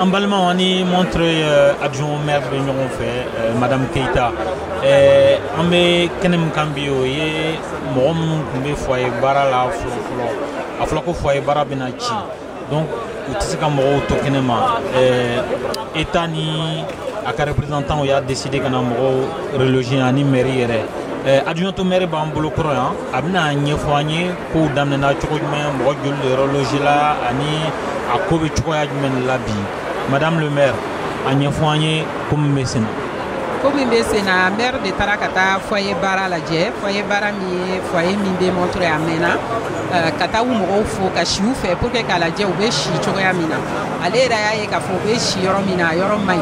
an balimaw an ni Montreuil adjoint maire bɛ ɲɔgɔn fɛ madame Keyita an bɛ kɛnɛ min kan bi o ye mɔgɔ minnu tun bɛ foyer Bara la fɔlɔ fɔlɔ a fɔra ko foyer Bara bɛna ci donc u tɛ se ka mɔgɔw to kɛnɛ ma État ni a ka représentants y'a décider ka na mɔgɔw reloger ani mairie yɛrɛ adjointe au maire b'an bolo kɔrɔ yan a bɛn'a ɲɛfɔ an ye Kow daminɛna cogo jumɛn mɔgɔ joli de reloger la ani a ko bɛ cogoya jumɛn de la bi madame le maire a ɲɛfɔ an ye ko min bɛ sen na ko min bɛ sen na maire de taara ka taa foyer Bara lajɛ foyer Bara min ye foyer min bɛ Montreuil a mɛnna euh, ka taa u mɔgɔw fo ka si u fɛ pour que k'a lajɛ u bɛ si cogoya min na ale yɛrɛ y'a ye k'a fɔ u bɛ si yɔrɔ min na a yɔrɔ man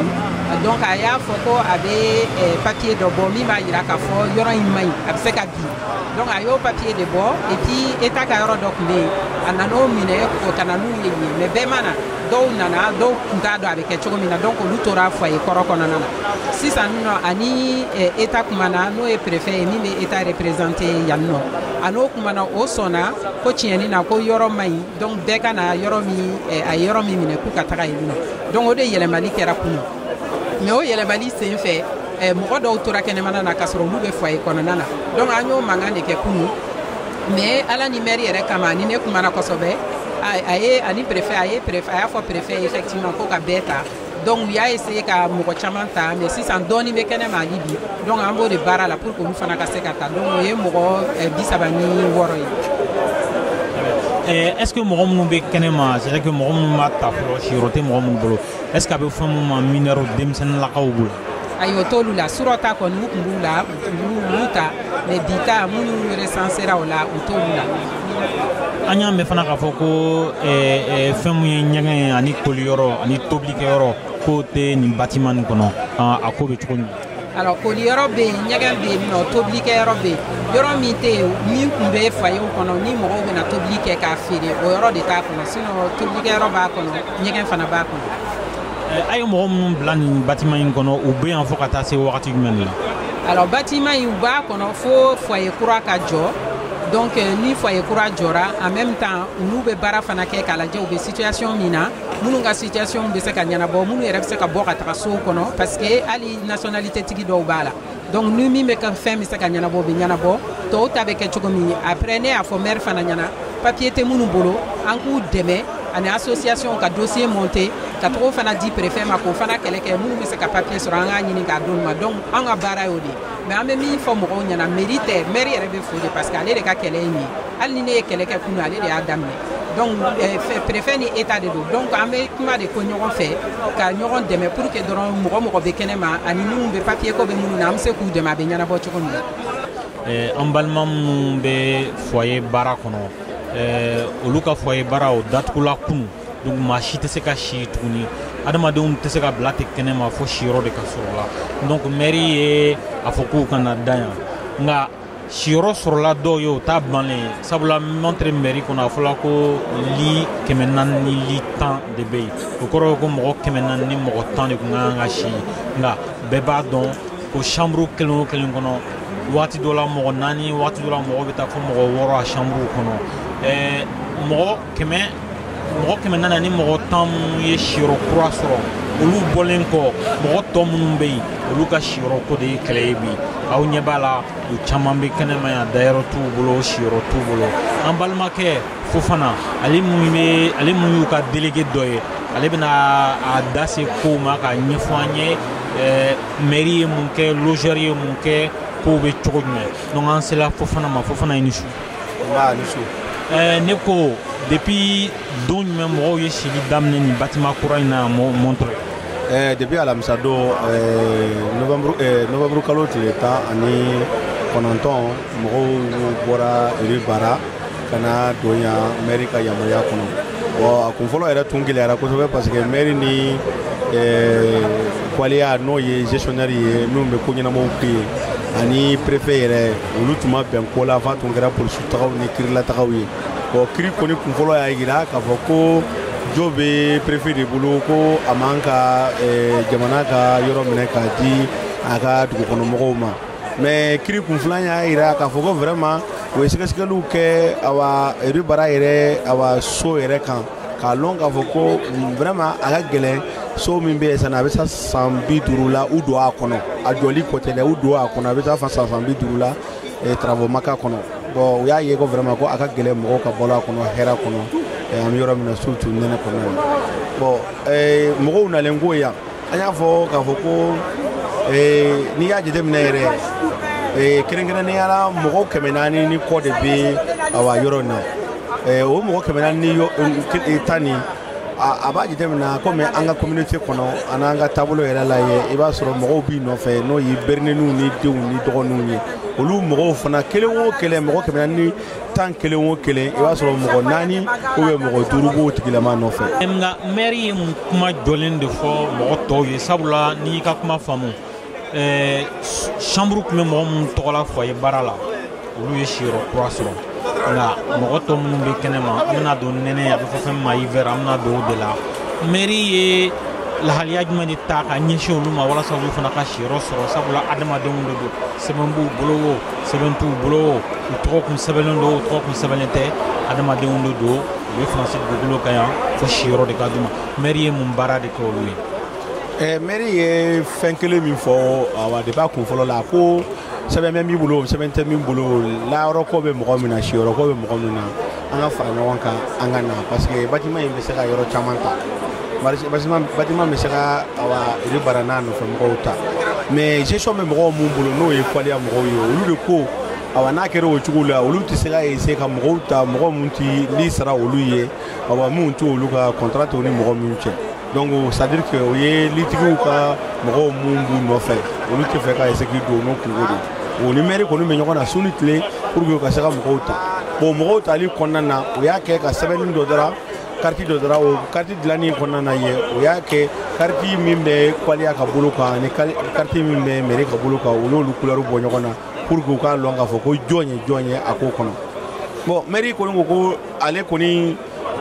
ɲi donc a y'a fɔ ko a bɛ euh, papier dɔ bɔ min b'a jira k'a fɔ yɔrɔ in man ɲi a bɛ se ka bin donc a y'o papiye de bɔ et puis eta ka yɔrɔ dɔ tun bɛ yen a nana o minɛ ko ka na n'u ye yen mais bɛɛ ma na dɔw nana dɔw tun t'a dɔn a bɛ kɛ cogo min na donc olu tora foye kɔrɔ kɔnɔna na sisan nɔ a ni eta kumana n'o ye préfet ye min bɛ eta représenter yan nɔ a n'o kumana o sɔnna ko tiɲɛni na ko yɔrɔ man ɲi donc bɛɛ ka na yɔrɔ min a ye yɔrɔ min minɛ k'u ka taga yen nɔ donc o de yɛlɛmali kɛra kunun mɛ o yɛlɛmali sen fɛ eh, mɔgɔ dɔw tora kɛnɛmana na k'a sɔrɔ olu bɛ fwaye kɔnɔna na donc an y'o mankan de kɛ kunu mɛ ala ni mɛri yɛrɛ kama ni ne kumana kosɛbɛ a ye ani préfet a y'a fɔ préfet effectivement ko ka bɛɛ ta donc u y'a essayer ka mɔgɔ caman ta mais sisan dɔɔni bɛ kɛnɛ ma hali bi donc an b'o de baara la pour que olu fana ka se ka ta donc o ye mɔgɔ eh, bi saba ni wɔɔrɔ ye eh, est ce que mɔgɔ minnu bɛ kɛnɛ ma c'est vrai que mɔgɔ minnu ma ta fɔlɔ siyɔrɔ tɛ mɔgɔ minnu bolo est ce que a bɛ fɔ minnu ma minɛrɛw denmisɛnninlakaw b'u la ayi o t'olu la surɔ ta kɔni u tun b'u la u ta mɛ bi ta minnu resansera o la u t'olu la an y'a mɛn fana k'a fɔ ko fɛn min ye ɲɛgɛn ye ani koliyɔrɔ ani tobilikɛyɔrɔ k'o tɛ nin batiman nin kɔnɔ a ko bɛ cogo di alors koli yɔrɔ bɛ yen ɲɛgɛn bɛ yen nɔ tobili kɛ yɔrɔ bɛ yen yɔrɔ min tɛ yen min tun bɛ foyerw kɔnɔ ni mɔgɔw bɛna tobili kɛ k'a feere o yɔrɔ de t'a kɔnɔ sinɔn tobili kɛ yɔrɔ b'a kɔnɔ ɲɛgɛn fana b'a kɔnɔ. a ye mɔgɔ minnu bila nin batiman in kɔnɔ u bɛ yan fo ka taa se wagati jumɛn de la. alors batiman in u b'a kɔnɔ fo foyer kura ka jɔ donc ni foyer kura jɔra en même temps olu bɛ baara fana kɛ k'a lajɛ u bɛ situation min na. minnu ka situation bɛ se ka ɲɛnabɔ minnu yɛrɛ bɛ se ka bɔ ka taga sow kɔnɔ parce que hali nationalité tigi dɔw b'a la donc ni min bɛ ka fɛn bɛ se ka ɲɛnabɔ o bɛ ɲɛnabɔ tɔw ta bɛ kɛ cogo min après ne y'a fɔ maire fana ɲɛna papier tɛ minnu bolo an k'u dɛmɛ an ni association ka dossier monter ka t'o fana di préfet ma k'o fana kɛlɛ kɛ minnu bɛ se ka papier sɔrɔ an k'a ɲini k'a d'olu ma donc an ka baara y'o de ye mais an bɛ min fɔ mɔgɔw ɲɛna mairie tɛ maire yɛrɛ bɛ fo de parce que ale de ka kɛlɛ ye nin ye hali ni ne ye kɛlɛ kɛ kunu ale de y'a daminɛ donc eh, préfet ni état de don donc an bɛ kuma de kɛ ɲɔgɔn fɛ ka ɲɔgɔn dɛmɛ pour que dɔrɔn mɔgɔ mɔgɔ bɛ kɛnɛ ma ani minnu bɛ papier ko bɛ minnu na an bɛ se k'u dɛmɛ a bɛ ɲɛnabɔ cogo min na. Eh, an balima minnu bɛ foyer Bara kɔnɔ eh, olu ka foyer Bara o datugula kunu donc maa si tɛ se ka si tuguni adamadenw tɛ se ka bila ten kɛnɛ ma fo siyɔrɔ de ka sɔrɔ u la donc mairie ye a fɔ k'u ka na da yan nka siyɔrɔ sɔrɔla dɔw ye o t'a bannen ye sabula Montreuil mɛri kɔnɔ a fɔla ko li kɛmɛ naani ni li tan de bɛ yen o kɔrɔ ye ko mɔgɔ kɛmɛ naani ni mɔgɔ tan de tun ka kan ka si nka bɛɛ b'a dɔn ko sanburu kelen o kelen kɔnɔ waati dɔ la mɔgɔ naani waati dɔ la mɔgɔ bɛ taa fo mɔgɔ wɔɔrɔ a sanburuw kɔnɔ ɛɛ mɔgɔ kɛmɛ mɔgɔ kɛmɛ naani ni mɔgɔ tan minnu ye siyɔrɔ kura sɔrɔ olu bɔlen kɔ mɔgɔ tɔ minnu bɛ yen olu ka siyɔrɔ ko de ye kɛlɛ ye bi aw ɲɛ b'a la u caman bɛ kɛnɛma yan dayɔrɔ t'u bolo siyɔrɔ t'u bolo an balimakɛ fofana ale min bɛ ale min y'u ka delege dɔ ye ale bɛna a da se kow ma k'a ɲɛfɔ an ye eh, mɛri ye mun kɛ lozɛri ye mun kɛ kow bɛ cogo jumɛn donc an sela fofana ma fofana i ni su eh, ne ko depuis don jumɛn mɔgɔw ye sili daminɛ nin batima kura in na Montreuil eh, depuis alamisa don eh, novembre kalo tile tan ani kɔnɔntɔn mɔgɔw bɔra rue Bara ka na don yan mɛri ka yamaruya kɔnɔ bon a kun fɔlɔ yɛrɛ tun gɛlɛyara kosɛbɛ parce que mɛri ni Coallia n'o ye gestionnaire ye minnu bɛ ko ɲɛnamaw kɛ yen ani préfet yɛrɛ olu tun ma bɛn ko la f'a tun kɛra polisitagaw ni kirilatagaw ye bon kiri kɔni kun fɔlɔ y'a yira k'a fɔ ko jo bɛ préfet de bolo ko a man kan eh, jamana ka yɔrɔ minɛ k'a di a ka dugukɔnɔmɔgɔw ma mais kiri kun filan y'a yira k'a fɔ ko vraiment u ye sɛgɛsɛgɛliw kɛ awa rue Bara yɛrɛ awa so yɛrɛ kan k'a lɔn k'a fɔ ko vraiment a ka gɛlɛn so min bɛ yen sisan a bɛ taa san bi duuru la u don a kɔnɔ a jɔli ko tɛ dɛ u don a kɔnɔ a bɛ taa fo san san bi duuru la eh, travaux ma k'a kɔnɔ bon u y'a ye ko vraiment ko a ka gɛlɛn mɔgɔw ka balo a kɔnɔ hɛrɛ kɔnɔ eh, an bɛ yɔrɔ min na surtout nɛnɛ kɔnɔ bon eh, mɔgɔw nalen kɔ yan an y'a fɔ k'a fɔ ko eh, n'i y'a jateminɛ yɛrɛ eh, kɛrɛnkɛrɛnnenya la mɔgɔw kɛmɛ naani ni kɔ de bɛ awa yɔrɔ in na eh, o mɔgɔ kɛmɛ naani ni yɔ- eh, tan ni a a b'a jateminɛ komi an ka communauté kɔnɔ ani an ka taabolo yɛrɛ la ye i b'a sɔrɔ mɔgɔw b'i nɔfɛ n'o ye bɛrɛnninw ni denw ni dɔgɔninw ye olu mɔgɔw fana kelen o kelen mɔgɔ kɛmɛ naani ni tan kelen o kelen i b'a sɔrɔ mɔgɔ naani ubiyɛn mɔgɔ duuru b'o tigilama nɔfɛ nka mɛri ye mun kuma jɔlen de fɔ mɔgɔ tɔw ye sabula n'i y'i ka kuma faamu eh, chambre tun bɛ mɔgɔ minnu tɔgɔ la foyer bara la olu ye siyɔrɔ kura sɔrɔ nka mɔgɔ tɔ minnu bɛ kɛnɛ ma an bɛna don nɛnɛ a bɛ fɔ fɛn ma hiver an bɛna don o de la mɛri ye lahaliya jumɛn de ta ka ɲɛsin olu ma walasa olu fana ka siyɔrɔ sɔrɔ sabula adamadenw de don sɛbɛn b'u bolo wo sɛbɛn t'u bolo u tɔgɔ kun sɛbɛnnen don u tɔgɔ kun sɛbɛnnen tɛ adamadenw de don u bɛ faransi dugukolo kan yan fo siyɔrɔ de ka d'u ma mɛri ye mun baara de kɛ olu ye eh, mɛri ye fɛn kelen min fɔ awa de b'a kun fɔlɔ la ko sɛbɛn bɛ min bolo sɛbɛn tɛ min bolo layɔrɔ ko bɛ mɔgɔ min na siyɔrɔ ko bɛ mɔgɔ min na an ka fara ɲɔgɔn kan an ka na parce que bâtiment in bɛ se ka yɔrɔ caman ta bâtiment bɛ se ka awa rue bara n'a nɔfɛ mɔgɔw ta mais gestion bɛ mɔgɔw mun bolo n'o ye coallia mɔgɔw ye olu de ko awa n'a kɛra o cogo la olu tɛ se ka essayer ka mɔgɔw ta mɔgɔ minnu tɛ li sara olu ye awa minnu tɛ olu ka contrat tɛ u ni mɔgɔ minnu cɛ donc c'est à dire que o ye litigiw ka mɔgɔw minnu b'u nɔfɛ olu tɛ fɛ ka essayer k'i don n'o kunko de o ni mɛri kɔni bɛ ɲɔgɔn na su ni tile pour que u ka se ka mɔgɔw ta bon mɔgɔw tali kɔnɔna na u y'a kɛ ka sɛbɛnni dɔ dara kariti dɔ dara o kariti dilanni kɔnɔna na ye o y'a kɛ kariti min bɛ coallia ka bolo kan ani kariti min bɛ mɛri ka bolo kan u y'olu kulɛriw bɔ ɲɔgɔn na pour que u k'a lɔn k'a fɔ ko jɔn ye jɔn ye a ko kɔnɔ bon mɛri kɔni ko ko ale kɔni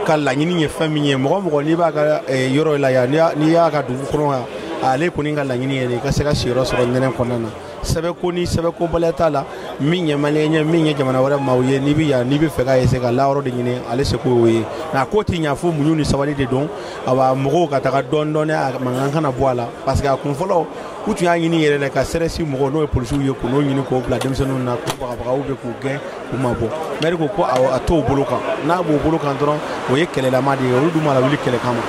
ka laɲini ye fɛn min ye mɔgɔ o mɔgɔ n'i b'a ka eh, yɔrɔ la yan n'i y'a ka dugu kɔnɔ yan ale kɔni ka laɲini ye de i ka se ka siyɔrɔ sɔrɔ nɛnɛ kɔnɔna na sɛbɛnko ni sɛbɛnkobaliya t'a la min ye maliyɛn ye min ye jamana wɛrɛ maaw ye n'i bɛ yan n'i bɛ fɛ ka essayer ka layɔrɔ de ɲini ale seko y'o ye nka a ko tɛ ɲa fo muɲu ni sabali de don awa mɔgɔw ka taga dɔɔni dɔɔni a mankan kana bɔ a la parce que a kun fɔlɔ u tun y'a ɲini yɛrɛ de ka CRS mɔgɔw n'o ye polisiw ye k'o ɲini k'o bila denmisɛnninw na k'u bagabaga ubiyɛn k'u gɛn u mabɔ mɛri ko ko a t'o bolo kan n'a b'o bolo kan dɔrɔn o ye kɛlɛlama de ye olu dun ma lawuli kɛlɛ kama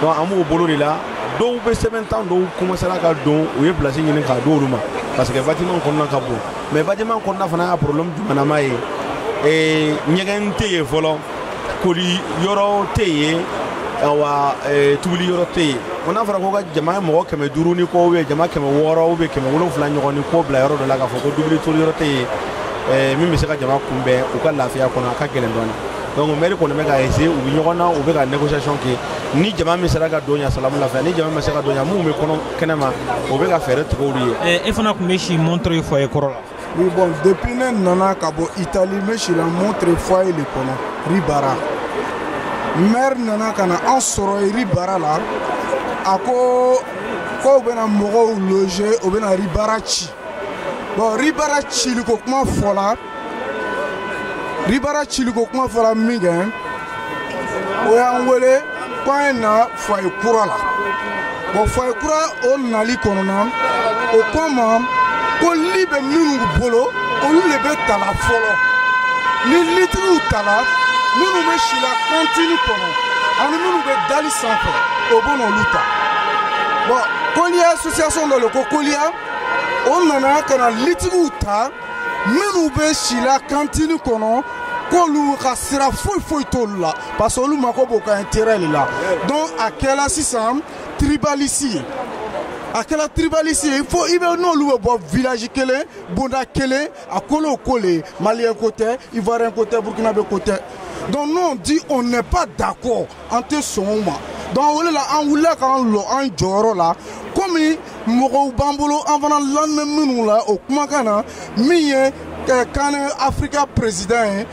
donc an b'o bolo de la dɔw bɛ sɛbɛntan dɔw commencera ka don u ye place ɲini k'a d'olu ma parce que bâtiment kɔnɔna ka bon mais bâtiment kɔnɔna fana y'a problème jumanama ye ɲɛgɛn tɛ yen fɔlɔ koli yɔrɔ tɛ yen awa eh, tubili yɔrɔ tɛ yen ko n'a fɔra ko ka jama ye mɔgɔ kɛmɛ duuru ni kɔ ubiyɛn jama kɛmɛ wɔɔrɔ ubiyɛn kɛmɛ wolonfila ɲɔgɔn ni kɔ bila yɔrɔ dɔ la k'a fɔ ko tubili toli yɔrɔ tɛ yen eh, min bɛ se ka jama kunbɛn u ka lafiya kɔnɔ a ka gɛlɛn dɔɔni donc mɛri kɔni bɛ ka essayer u bɛ ɲɔgɔn na u bɛ ka négociation kɛ ni jama min sera ka don yan salamu lafiya ni jama ma se ka don yan minnu bɛ kɔnɔ kɛnɛ ma o bɛ ka fɛɛrɛ tigɛ olu ye eh, e fana tun bɛ si montreuil foyer kɔrɔ la Oui, bon, depuis ne nana ka bɔ Italie n bɛ si la Montreuil foyer le kɔnɔ rue Bara maire nana ka na an sɔrɔ rue Bara la a ko k'o bɛna mɔgɔw loger o bɛna rue Bara ci bon rue Bara cili ko kuma fɔla rue Bara cili ko kuma fɔla min kɛ o y'an wele k'an ye na foyer kura la bon foyer kura o nali kɔnɔna o ko ma ko li bɛ minnu bolo olu le bɛ ta la fɔlɔ ni litigiw tala minnu bɛ si la kantini kɔnɔ ani minnu bɛ da li sanfɛ o bɛna olu ta bon Coallia association dɔ le ko Coallia o nana ka na litigiw ta minnu bɛ si la kantini kɔnɔ k'olu ka sira foyi foyi t'olu la parce que olu mago b'o ka intérêt le la donc a kɛla sisan tribalisme ye a kɛla tribalisme ye fo i bɛ n'olu bɛ bɔ village kelen bonda kelen a kolo ko le ye maliyɛn ko tɛ ivoirien ko tɛ burukinabe ko tɛ donc nous on dit on n'est pas d'accord an tɛ sɔn o ma donc o le la an wulila k'an lɔ an jɔyɔrɔ la komi mɔgɔw b'an bolo an fana lanin bɛ minnu la o kumakan na min ye kan afirika peresidan ye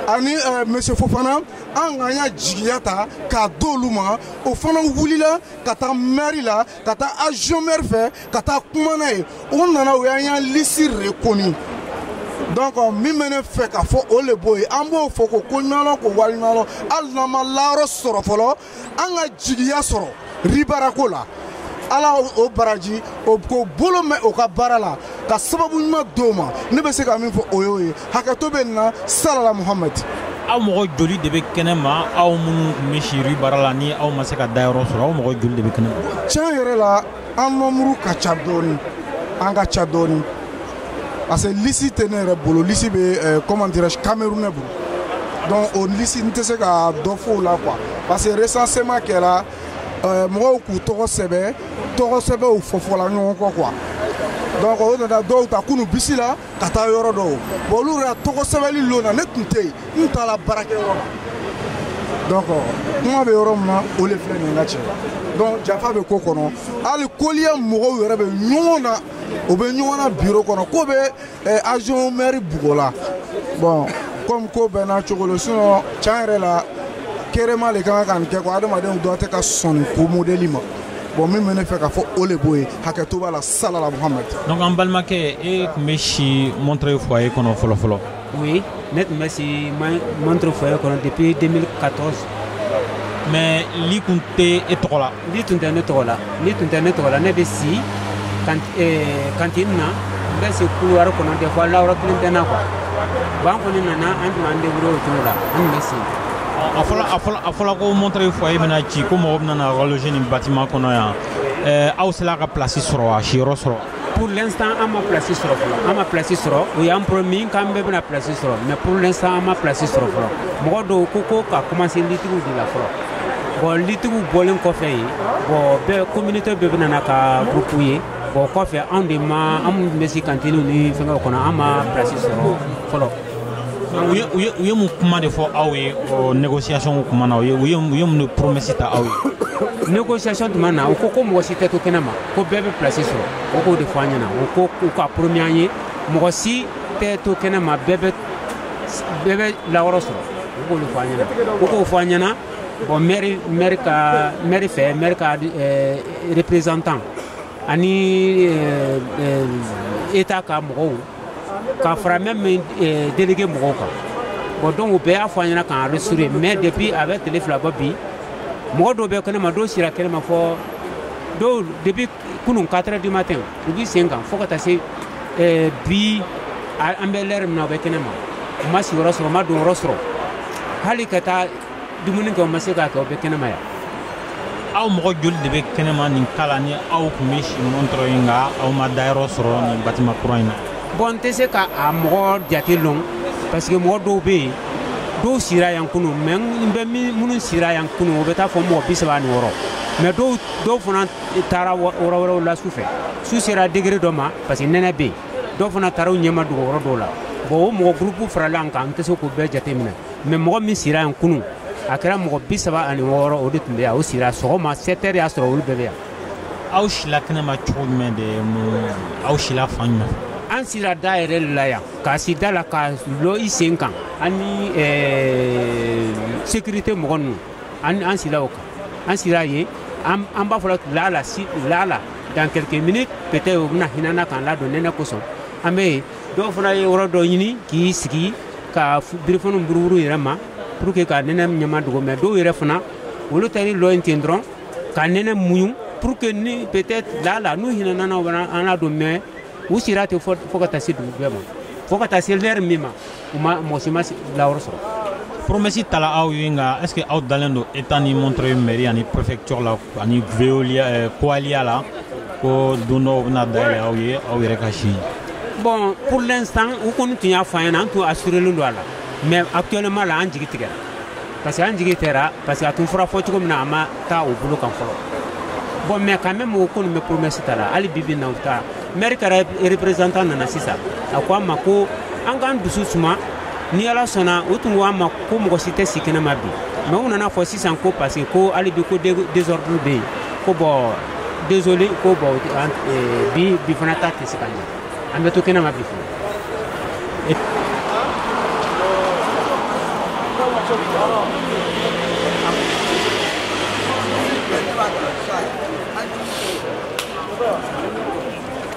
ani monsieur Fofana an k'an ya jigiya ta k'a d'olu ma o fana wulila ka taa mairie la ka taa adjoint maire fɛ ka taa kuma n'a ye o nana o y'an ya lisi reconnu donc min bɛ ne fɛ ka fɔ o le b'o ye an b'o fɔ ko koɲumanlɔn ko waleɲumanlɔn hali n'an ma layɔrɔ sɔrɔ fɔlɔ an ka jigiya sɔrɔ rue Bara ko la ala o baraji k'o bolo mɛn o ka baara la ka sababu ɲuman d'o ma ne bɛ se ka min fɔ o y'o ye hakɛto bɛ nin na salala muhamadi aw mɔgɔ joli de bɛ kɛnɛ ma aw minnu tun bɛ si rue Bara la ni aw ma se ka dayɔrɔ sɔrɔ aw mɔgɔ joli de bɛ kɛnɛ ma tiɲɛ yɛrɛ la an nombre ka ca dɔɔni an ka ca dɔɔni parce que lisi tɛ ne yɛrɛ bolo lisi bɛ eh, comment dirais-je camerounais bolo donc o lisi n tɛ se ka dɔ fɔ o la quoi parce que recensement kɛra eh, mɔgɔw k'u tɔgɔ sɛbɛ tɔgɔ sɛbɛw fɔfɔla ɲɔgɔn kɔ quoi donc o nana dɔw ta kunu bisi la ka taa yɔrɔ dɔw bon olu yɛrɛ tɔgɔ sɛbɛli lon na ne tun tɛ yen n taara baarakɛyɔrɔ la donc kuma bɛ yɔrɔ min na o de filɛ nin ka cɛ donc janfa bɛ ko kɔnɔ hali Coallia mɔgɔw yɛrɛ bɛ ɲɔgɔn na o bɛ ɲɔgɔn na biro kɔnɔ k'o bɛ Eh, adjoint maire bugɔ la bon comme ko bɛɛ n'a cogo lo sinon tiɲɛ yɛrɛ la kerema le ka kan ka nin kɛ ko adamadenw dɔ tɛ ka sɔn nin ko modèle ma bon min bɛ ne fɛ ka fɔ o le b'o ye hakɛto b'a la salala muhamad donc an balimakɛ e tun bɛ si montreuil foyer kɔnɔ fɔlɔfɔlɔ oui ne tun bɛ si montreuil foyer kɔnɔ depuis 2014 mais li tun tɛ e tɔgɔ la li tun tɛ ne tɔgɔ la li tun tɛ ne tɔgɔ la ne bɛ si cantine na n bɛ si couloir kɔnɔ des fois lawɔrɔ kelen tɛ n na quoi bon an kɔni nana an tun b'an débrouiller o cogo la an tun bɛ si a fɔla a fɔla a fɔla ko montreuil foyer bɛna ci ko mɔgɔ bɛna na ka loger nin bâtiment kɔnɔ yan ɛɛ aw sera ka place sɔrɔ wa siyɔrɔ sɔrɔ pour l'instant an ma place sɔrɔ fɔlɔ an ma place sɔrɔ o y'an promis k'an bɛɛ bɛna place sɔrɔ mais pour l'instant an ma place sɔrɔ fɔlɔ mɔgɔ dɔw ko ko ka commencer litigiw de la fɔlɔ bon litigiw bɔlen kɔfɛ yen bon bɛɛ communauté bɛɛ bɛna na ka groupe ye bon kɔfɛ anw de ma an minnu bɛ si kantiniw ni fɛngɛw kɔnɔ an ma place sɔrɔ fɔlɔ u ye mun kuma de fɔ aw ye négociation kuma na u ye u ye mun de promesse ta aw ye négociation tuma na u ko ko mɔgɔ si tɛ to kɛnɛ ma ko bɛɛ bɛ place sɔrɔ o k'o de fɔ an ɲɛna u ko u ka promis an ye mɔgɔ si tɛ to kɛnɛ ma bɛɛ bɛ bɛɛ bɛ lawɔrɔ sɔrɔ u k'olu fɔ an ɲɛna u k'o fɔ an ɲɛna bon mairie mairie ka mairie fɛ mairie ka eh, représentant ani eh, eh, état ka mɔgɔw k'a fara même eh, délégué mɔgɔw kan bon donc u bɛɛ y'a fɔ an ɲɛna k'an rassurer mais depuis a bɛ tile fila bɔ bi mɔgɔ dɔw bɛ kɛnɛma dɔw sira kɛnɛma fo dɔw depuis kunun 4 heures du matin u b'i sen kan fo ka taa se eh, bi an bɛ lɛri min na u bɛ kɛnɛma u ma sigiyɔrɔ sɔrɔ u ma donyɔrɔ sɔrɔ hali ka taa dumuni kɛ u ma se k'a kɛ u bɛ kɛnɛma yan aw mɔgɔ joli de bɛ kɛnɛma nin kala ni aw tun bɛ si montreuil nka aw ma dayɔrɔ sɔrɔ nin bâtiment kura in na bon n tɛ se ka a mɔgɔ jate lɔn parce que mɔgɔ dɔw bɛ yen dɔw sira yan kunun mais n bɛ minnu sira yan kunun o bɛ taa fo mɔgɔ bi saba ni wɔɔrɔ mais dɔw dɔw fana taara yɔrɔ wɛrɛw la su fɛ su sera degré dɔ ma parce que nɛnɛ bɛ yen dɔw fana taara u ɲɛmadogo yɔrɔ dɔw la bon o mɔgɔ groupe farala an kan n tɛ se k'u bɛɛ jate minɛ mais mɔgɔ min sira yan kunun a kɛra mɔgɔ bi saba ani wɔɔrɔ o de tun bɛ yan o sira sɔgɔma 7 heures y'a sɔrɔ olu bɛɛ bɛ yan aw sila kɛnɛma cogo jumɛn de aw sila fan jumɛn an sira da yɛrɛ de la yan k'a si da la ka lɔ i sen kan ani sécurité mɔgɔ ninnu an sira o kan an sira yen an b'a fɔla lala si lala dans quelques minutes peut-être u bɛna hinɛ an na k'an ladon nɛnɛ kosɔn an bɛ yen dɔw fana ye yɔrɔ dɔ ɲini k'i sigi ka birifaniw buruburu yɛrɛ ma pour que ka nɛnɛ ɲɛmadogo mais dɔw yɛrɛ fana olu taara i lɔ yen ten dɔrɔn ka nɛnɛ muɲu pour que ni peut-être lala n'u hinɛna an na u bɛ an ladon mais u sira ten fo fo ka taa se dugujɛ ma fo ka taa se lɛri min ma u ma mɔgɔ si ma layɔrɔ sɔrɔ promesse tala aw ye nka est ce que aw dalen don état ni montreuil mairie ani préfecture la ani veolia coallia la ko bon dɔw bɛna dayɛlɛ aw ye aw yɛrɛ ka si bon pour l'instant u kɔni tun y'a fɔ an ɲɛna an tun assurelen don a la mais actuellement la an jigi tigɛra parce que an jigi tigɛra parce que a tun fɔra fɔ cogo min na a ma taa o bolo kan fɔlɔ bon mais quand même u kɔni bɛ promesse ta la hali bibi na u ta maire ka représentant nana sisan a ko an ma ko an k'an dusu suma ni ala sɔnna u tun ko an ma ko mɔgɔ si tɛ si kɛnɛ ma bi mais u nan'a fɔ sisan ko parce que ko hali bi ko désordre bɛ yen ko bon Désolé ko bon bi fana ta tɛ se ka ɲɛ an bɛ to kɛnɛ ma bi fana